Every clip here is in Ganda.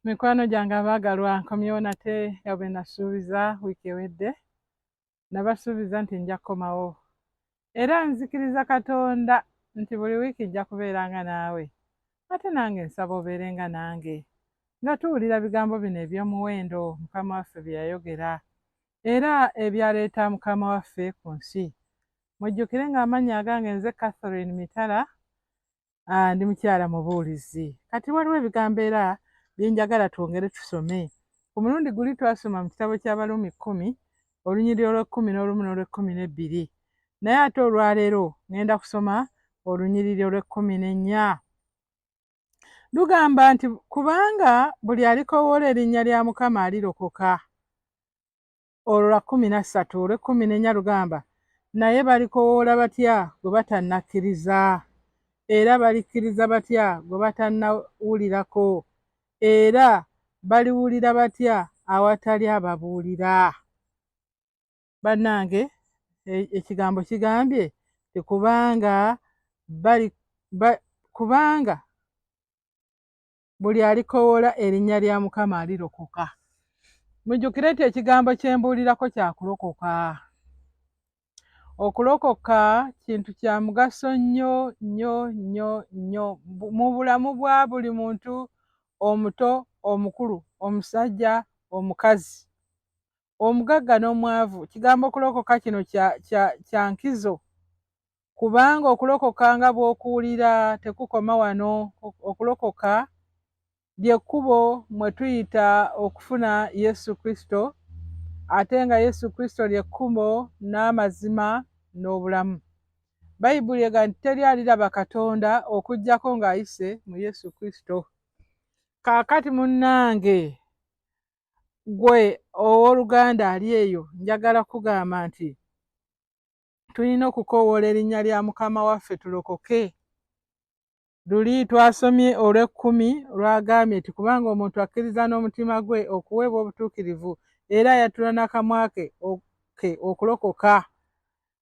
mikwano gyange abaagalwa nkomyewo nate nga bwe nasuubiza wiiki ewedde nabasuubiza nti nja kukomawo era nzikiriza katonda nti buli wiiki nja kubeera nga naawe ate nange nsaba obeere nga nange nga tuwulira bigambo bino eby'omuwendo mukama waffe bye yayogera era ebyaleeta mukama waffe ku nsi mujjukire ng'amannya agange nze catherine mitala ah, ndi mukyala mubuulizi kati waliwo ebigambo era byenjagala twongere tusome ku mulundi guli twasoma mu kitabo ky'abaluumi kkumi olunyiri olw'ekkumi n'olumu n'olw'ekkumi n'ebbiri naye ate olwaleero ŋŋenda kusoma olunyiriri olw'ekkumi n'ennya lugamba nti kubanga buli alikoowoola erinnya lya mukama alirokoka olwo lwa kkumi na ssatu olw'ekkumi n'ennya lugamba, Naye balikowoola batya gwe batannakkiriza? Era balikkiriza batya gwe batannawulirako? Era baliwulira batya awatali ababuulira? Bannange, e-, ekigambo kigambye nti kubanga bali ba, kubanga buli alikowoola erinnya lya mukama alirokoka mujjukire nti ekigambo kyembuulirako kyakulokoka okulokoka kintu kya mugaso nnyo nnyo nnyo nnyo mu bulamu bwa buli muntu omuto omukulu omusajja omukazi omugagga n'omwavu kigambo okulokoka kino kya nkizo kubanga okulokoka nga bw'okuwulira tekukoma wano okulokoka lyekkubo mwe tuyita okufuna yesu kristo ate nga yesu kristo lyekkubo n'amazima n'obulamu bayibuli ega nti teri aliraba katonda okugyako ng'ayise mu yesu kristo kaakati munnange gwe ow'oluganda ali eyo njagala kugamba nti tulina okukoowoola erinnya lya mukama waffe tulokoke luli twasomye olw'ekkumi lwagambye nti kubanga omuntu akkiriza n'omutima gwe okuweebwa obutuukirivu era yatula n'akamwa ke ke okulokoka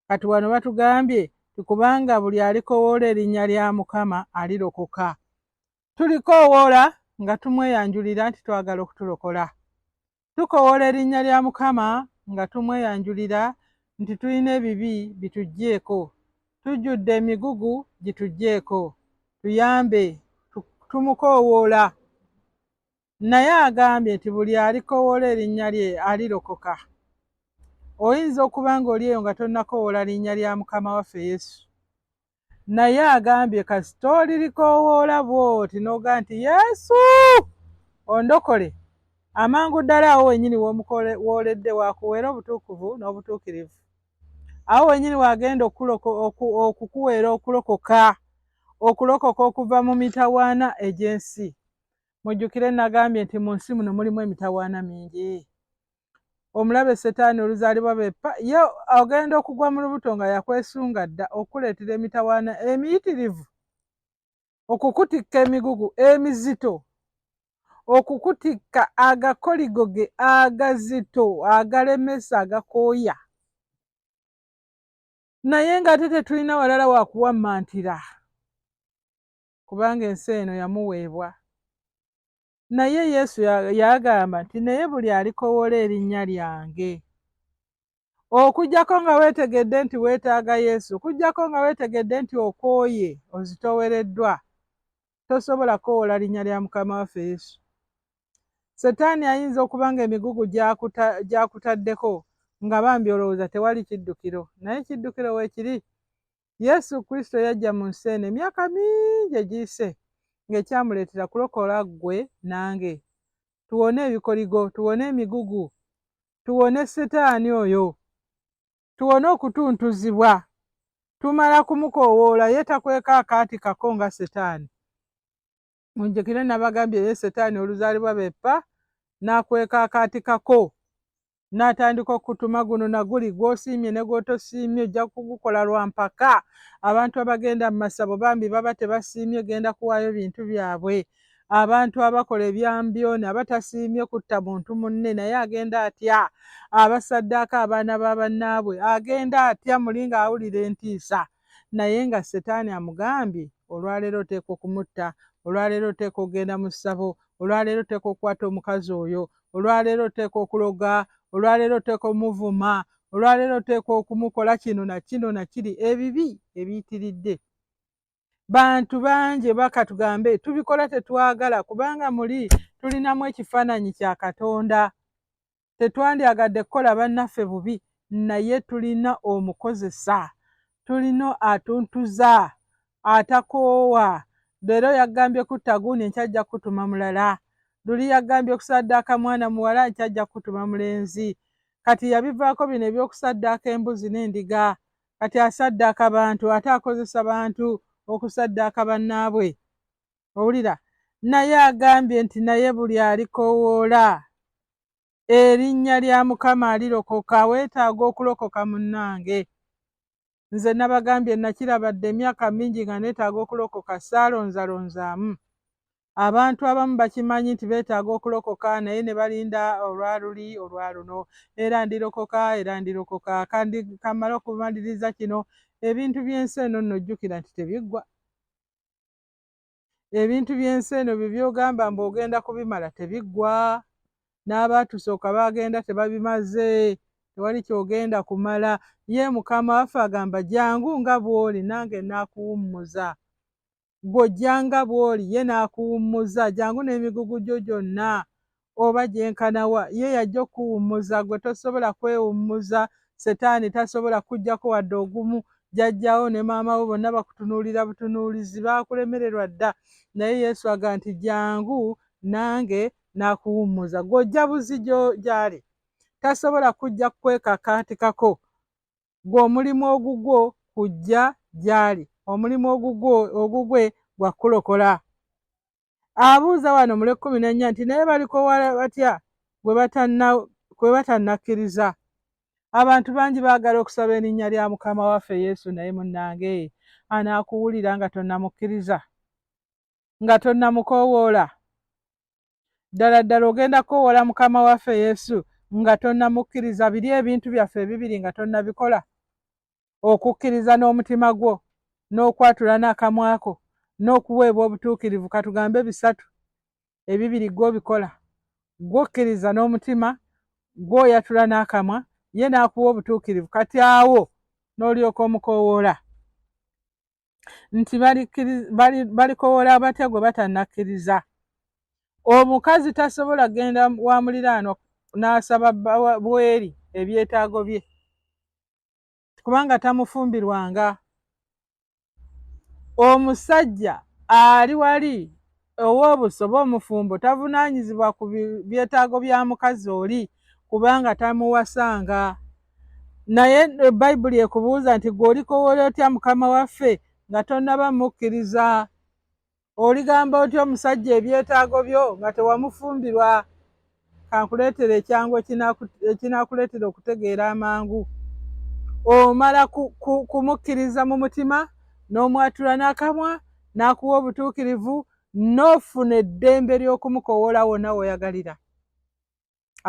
kati wano batugambye tikubanga buli alikowoola erinnya lya mukama alirokoka Tulikoowoola nga tumweyanjulira nti twagala okutulokola. Tukowoola erinnya lya Mukama nga tumweyanjulira nti tulina ebibi bituggyeeko. Tujjudde emigugu gituggyeeko. Tuyambe. Tumukoowoola. Naye agambye nti buli alikowoola erinnya lye alirokoka. Oyinza okuba ng'oli eyo nga tonnakowoola linnya lya Mukama waffe Yesu. naye agambye kasita olirikoowoola bwoti noga nti yesu ondokole amangu ddala awo wenyini wooledde wakuweera obutuukuvu n'obutuukirivu awo wenyini wagenda okukuweera okulokoka okulokoka okuva mu mitawaana egy'ensi mujjukire nagambye nti mu nsi muno mulimu emitawaana mingi omulabe setaani oluzaalibwa beppa ye agenda okugwa mu lubuto nga yakwesunga dda okukuleetera emitawaana emiyitirivu okukutikka emigugu emizito okukutikka agakoligo ge agazito agalemesa agakooya naye ng'ate tetulina walala wakuwammantira kubanga ensi eno yamuweebwa naye yesu yagamba nti naye buli alikowola erinnya lyange okujjako nga weetegedde nti weetaaga yesu okujjako nga weetegedde nti okooye ozitowereddwa tosobola kukowola linnya lya mukama waffe yesu setaani ayinza okuba nga emigugu gyakutaddeko nga bambi olowooza tewali kiddukiro naye kiddukiro weekiri Yesu Kristo yajja mu nsi eno emyaka mingi egiyise ng'ekyamuleetera kulokola ggwe nange tuwone ebikoligo tuwone emigugu tuwone setaani oyo tuwone okutuntuzibwa tumala kumukoowoola ye takweka akaati kako nga setaani munjekire nabagambye ye setaani oluzaalibwa bepa nakweka akaati kako natandika okutuma guno naguli gwosiimye ne gwotosiimye ojja kugukola lwa mpaka abantu abagenda mu masabo bambi baba tebasiimye genda kuwaayo bintu byabwe abantu abakola ebyambyoni abatasiimye kutta muntu munne naye agenda atya abasaddaako abaana ba bannaabwe agenda atya muli nga awulira entiisa naye nga setaani amugambye olwaleero oteeka okumutta olwaleero oteeka okugenda mu ssabo olwaleero oteeka okukwata omukazi oyo olwaleero oteeka okuloga olwaleero oteeka omuvuma olwaleero oteeka okumukola kino na kino na kiri ebibi ebiyitiridde bantu bangi oba katugambe tubikola tetwagala kubanga muli tulinamu ekifaananyi kya katonda tetwandyagadde kukola bannaffe bubi naye tulina omukozesa tulina atuntuza atakoowa leero yagambye kutta gundi enkya ajja kukutuma mulala luli yagambye okusaddaaka mwana muwala enkya ajja kukutuma mulenzi kati yabivaako bino ebyokusaddaaka embuzi n'endiga kati asaddaaka bantu ate akozesa bantu okusaddaaka bannaabwe owulira naye agambye nti naye buli alikowoola erinnya lya mukama alirokoka weetaaga okulokoka munnange nze nabagambye nakirabadde emyaka mingi nga neetaaga okulokoka saalonzalonzaamu abantu abamu bakimanyi nti beetaaga okulokoka naye ne balinda olwaluli olwaluno era ndirokoka era ndirokoka kandi kamala okumaliriza kino ebintu by'ensi eno nno jjukira nti tebiggwa ebintu by'ensi eno bye byogamba mbu ogenda kubimala tebiggwa n'abaatusooka baagenda tebabimaze tewali kyogenda kumala ye mukama waffe agamba jangu nga bw'oli nange naakuwummuza gw'ojja nga bw'oli ye naakuwummuza jangu n'emigugu gyo gyonna oba gyenkana wa ye yajja okuwummuza gwe tosobola kwewummuza setaani tasobola kujjako wadde ogumu jajjawo ne maama wo bonna bakutunuulira butunuulizi baakulemererwa dda naye yesu aga nti jangu nange nakuwummuza gwojja buzi gyali tasobola kujja kukwekakaatikako gwe omulimu ogugwo kujja gyali omulimu ogugwo ogugwe gwakulokola abuuza wano mu lwekkumi n'ennya nti naye balikowa batya kwe batannakkiriza abantu bangi baagala okusaba erinnya lya mukama waffe yesu naye munnange anaakuwulira nga tonnamukkiriza nga tonnamukowoola ddala ddala ogenda kukowoola mukama waffe yesu nga tonnamukkiriza biri ebintu byaffe ebibiri nga tonnabikola okukkiriza n'omutima gwo n'okwatula n'akamwako n'okuweebwa obutuukirivu katugambe bisatu ebibiri gwobikola gwokkiriza n'omutima gwoyatula n'akamwa ye n'akuwa obutuukirivu kati awo n'olyoka omukoowoola nti balikowoola abatya gwe batannakkiriza omukazi tasobola kugenda wa muliraano n'asaba bweri ebyetaago bye kubanga tamufumbirwanga omusajja ali wali ow'obusoba omufumbo tavunaanyizibwa ku byetaago bya mukazi oli kubanga tamuwasanga naye eh, bayibuli ekubuuza nti gwe olikowola otya mukama waffe nga tonaba mukkiriza oligamba otya omusajja ebyetaago byo nga tewamufumbirwa kankuleetera ekyangu ekinakuleetera okutegeera amangu omala kumukkiriza mu mutima n'omwatula n'akamwa n'akuwa obutuukirivu n'ofuna eddembe ly'okumukowoola wonna woyagalira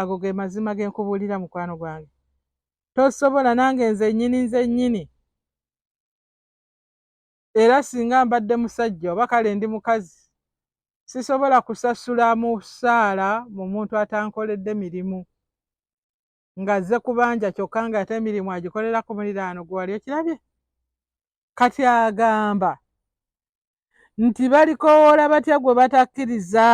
ago ge mazima ge nkubuulira mukwano gwange tosobola nange nze nnyini nze nnyini era singa mbadde musajja oba kale ndi mukazi sisobola kusasula musaala mu muntu atankoledde mirimu nga zze kubanja kyokka nga ate emirimu agikolera ku muliraano gwe wali okirabye kati agamba nti balikowoola batya gwe batakkiriza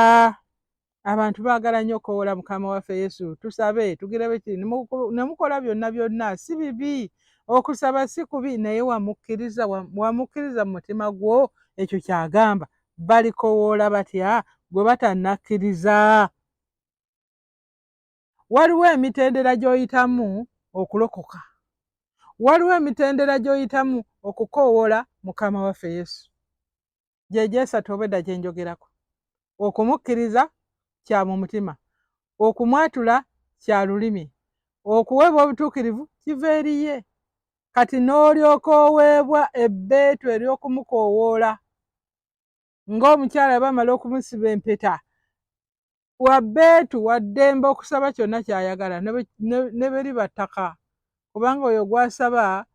abantu baagala nnyo okukowoola mukama waffe yesu tusabe tugirebe ki ne mukola byonna byonna si bibi okusaba si kubi naye wamukkiriza wamukkiriza mu mutima gwo ekyo kyagamba balikowoola batya gwe batannakkiriza waliwo emitendera gy'oyitamu okulokoka waliwo emitendera gy'oyitamu okukoowola mukama waffe yesu gyegyesatu obwedda gye njogerako okumukkiriza kya mu mutima okumwatula kya lulimi okuweebwa obutuukirivu kiva eriye kati n'olyoka oweebwa ebbeetu ery'okumukoowoola ng'omukyala bamala okumusiba empeta wabbeetu waddembe okusaba kyonna ky'ayagala ne beri battaka kubanga oyo gw'asaba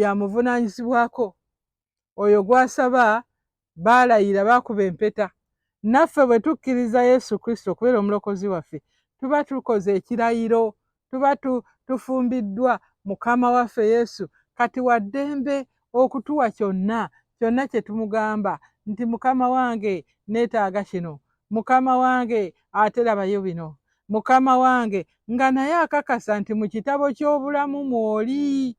yamuvunaanyizibwako oyo gw'asaba baalayira baakuba empeta naffe bwe tukkiriza yesu kristo okubeera omulokozi waffe tuba tukoze ekirayiro tuba tufumbiddwa mukama waffe yesu kati waddembe okutuwa kyonna kyonna kye tumugamba nti mukama wange neetaaga kino mukama wange ate labayo bino mukama wange nga naye akakasa nti mu kitabo ky'obulamu mwoli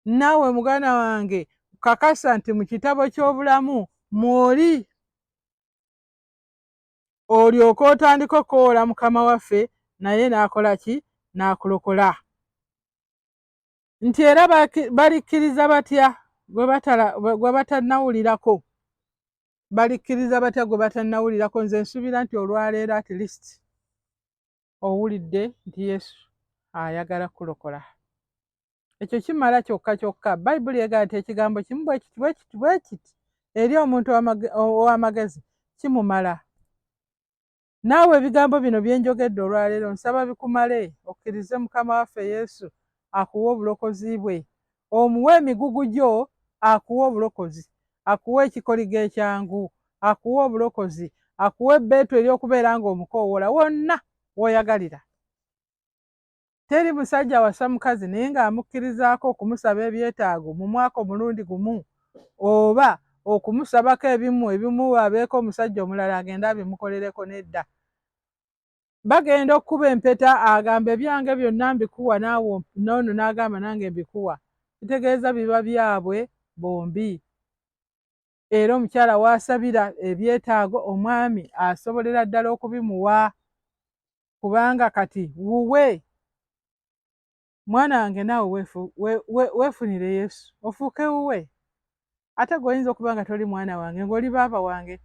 naawe muganda wange kakasa nti mu kitabo ky'obulamu mwoli olyoke otandika okukowoola mukama waffe naye n'akola ki n'akulokola nti era balikkiriza batya gwe batannawulirako balikkiriza batya gwe batannawulirako nze nsuubira nti olwaleero at least owulidde nti yesu ayagala kulokola ekyo kimala kyokka kyokka bayibuli egaa nti ekigambo kimu bwekiti bwekiti bwekiti eri omuntu ow'amagezi kimumala naawe ebigambo bino byenjogedde olwaleero nsaba bikumale okkirize mukama waffe yesu akuwe obulokozi bwe omuwe emigugu gyo akuwe obulokozi akuwe ekikoligo ekyangu akuwe obulokozi akuwe ebbeetu ery'okubeera ng'omukoowola wonna w'oyagalira teri musajja wasa mukazi naye ng'amukkirizaako okumusaba ebyetaago mu mwaka omulundi gumu oba okumusabako ebimu ebimu abeeko omusajja omulala agenda abimukolereko nedda bagenda okukuba empeta agamba ebyange byonna mbikuwa naawe noono n'agamba nange mbikuwa kitegeeza biba byabwe bombi era omukyala waasabira ebyetaago omwami asobolera ddala okubimuwa kubanga kati wuwe mwana wange naawe wefu, we, we, wefunire yesu ofuuke wuwe ate gweoyinza okuba nga toli mwana wange ngaoli baaba wange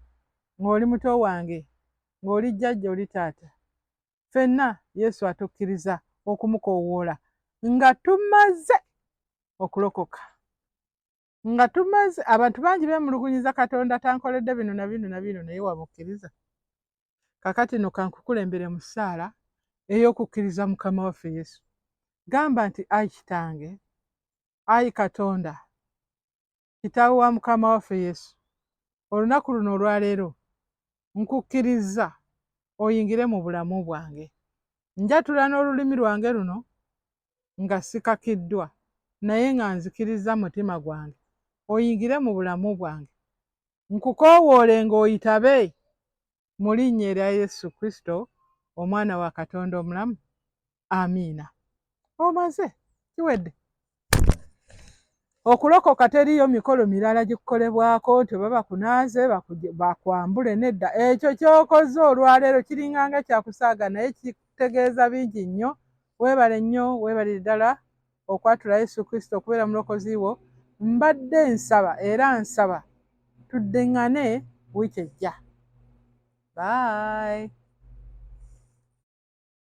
ngaoli muto wange ngaoli jjajja oli taata fenna yesu atukkiriza okumukowoola nga tumaze okulokoka nga tumaze abantu bangi bemulugunyiza katonda tankoledde bino na bino na bino naye wamukkiriza kakati no kankukulembere mu ssaala ey'okukkiriza mukama waffe yesu gamba nti ayi kitange ayi katonda kitaawe wa mukama waffe yesu olunaku luno olwaleero nkukkiriza oyingire mu bulamu bwange njatula n'olulimi lwange luno nga sikakiddwa naye nga nzikirizza mutima gwange oyingire mu bulamu bwange nkukowoole ng'oyitabe mu linnya erya yesu kristo omwana wa katonda omulamu amiina omaze kiwedde okulokoka teriyo mikolo mirala gikukolebwako nti oba bakunaaze bakwambule nedda ekyo kyokoze olwaleero kiringanga kyakusaaga naye kitegeeza bingi nnyo Webale nnyo webalire ddala okwatula Yesu Kristo okubeera mulokozi wo. Mbadde nsaba era nsaba tuddingane wiiki ejja. Bye.